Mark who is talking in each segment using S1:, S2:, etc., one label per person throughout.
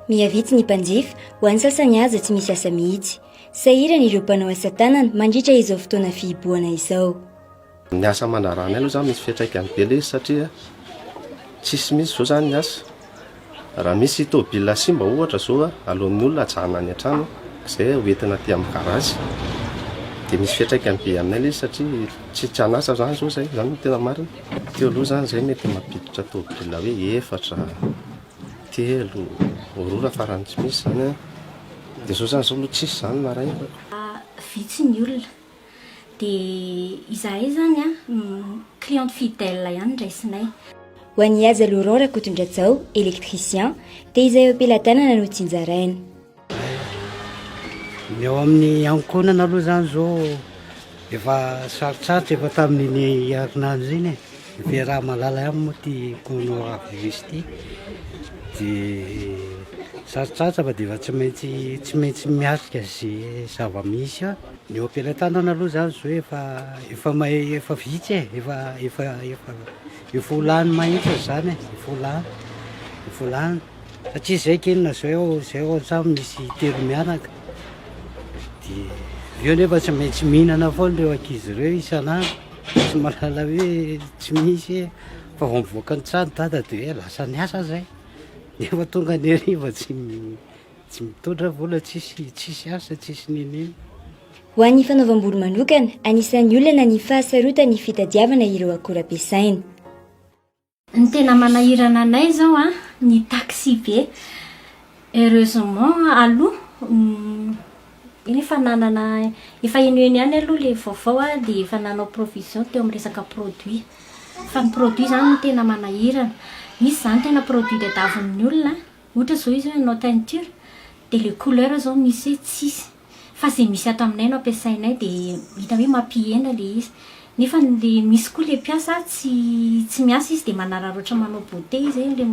S1: Mihavitsy ny mpanjifa, ho an'ny sasany aza tsy misy asa mihitsy. Sahirana ireo mpanao asa tanana mandritra izao fotoana fihibohana izao. Ny asa
S2: aman-draharahanay aloha izany misy fiantraikany be ilay izy satria tsisy mihitsy izao izany ny asa. Raha misy tôbila simba ohatra izao a, aloan'ny olona ajanona any an-trano izay ho entina aty amin'ny garazy. Dia misy fiantraikany be aminay ilay izy satria tsy tsy an'asa izany izao izay, izany no tena marina. Teo aloha izany izahay mety mampiditra tôbila hoe efatra, telo, aurora farany tsy misy izany an. Dia izao izany izao aloha tsisy izany narahinay. Vitsy
S3: ny olona. Dia izahay izany an, cliente fidèle ihany ndraisinay. Ho an'i Haja
S1: Laurent Rakotondrajao, électricien, dia izay am-pelatanana no tsinjaraina.
S4: Ny ao amin'ny ankohonana aloha izany izao efa sarotsarotra efa tamin'iny herinandro iny e. Dia raha mahalala ihany moa ity coronavirus ity dia sarotsarotra fa dia efa tsy maintsy tsy maintsy miatrika izay zava-misy eo. Ny eo am-pelatanana aloha izany zo efa efa may efa vitsy e, efa efa efa efa ho lany mahitsy izany e, efa ho lany efa ho lany satria izay kinina izay ao izay ao an-trano misy telo mianaka dia ireo nefa tsy maintsy mihinana foana ireo ankizy ireo isan'andro tsy mahalala hoe tsy misy e fa vao mivoaka ny trano dada dia hoe lasa niasa izay nefa tonga ny hariva tsy Tsy mitondra vola tsisy tsisy asa tsisy nenina. Ho an'ny
S1: fanaovam-bolo manokana, anisan'ny olana ny fahasarotan'ny fitadiavana ireo akora ampiasaina.
S3: Ny tena manahirana anay izao an, ny taxi-be. Heureusement aloha efa nanana, efa eny ho eny ihany aloha ilay vaovao dia efa nanao provision teo amin'ny resaka produit. Fa ny produit izany no tena manahirana. Misy izany tena produit tadiavin'ny olona. Ohatra zao izy hoe hanao teinture dia le couleur zao misy hoe tsisy fa ze misy ato aminay no ampiasainay dia hita hoe mampihena le izy nefa le misy koa le mpiasa tsy tsy miasa izy dia manararaotra manao beauté izy hoe le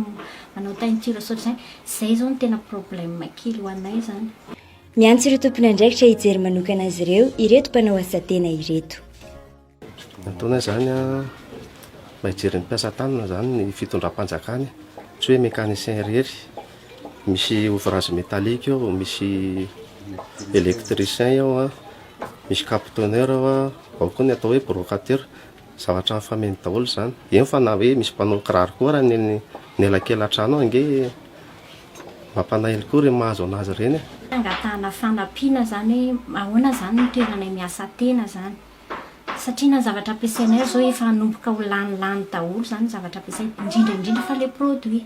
S3: manao teinture sao de zany zay zao no tena problème kely ho anay zany. Miantso ireo
S1: tompon'andraikitra hijery manokana azy ireo ireto mpanao asa tena ireto.
S2: Antoana izany an, mba hijery ny mpiasa tanana izany ny fitondram-panjakana, tsy hoe mécanicien irery, misy ouvrage métallique ao, misy électricien ao an, misy captonneur ao an, ao koa ny atao hoe brocateur, zavatra mifameno daholo izany, eny fa na hoe misy mpanao kiraro koa ary eny anelakelan-trano ao ange mampanailo koa ireny mahazo anazy ireny e. Fangatahana
S3: fanampiana izany hoe ahoana izany ny toerana miasa tena izany. satria na ny zavatra ampiasainay aza izao efa hanomboka ho lany lany daholo izany ny zavatra ampiasaina, indrindra indrindra fa ilay produit.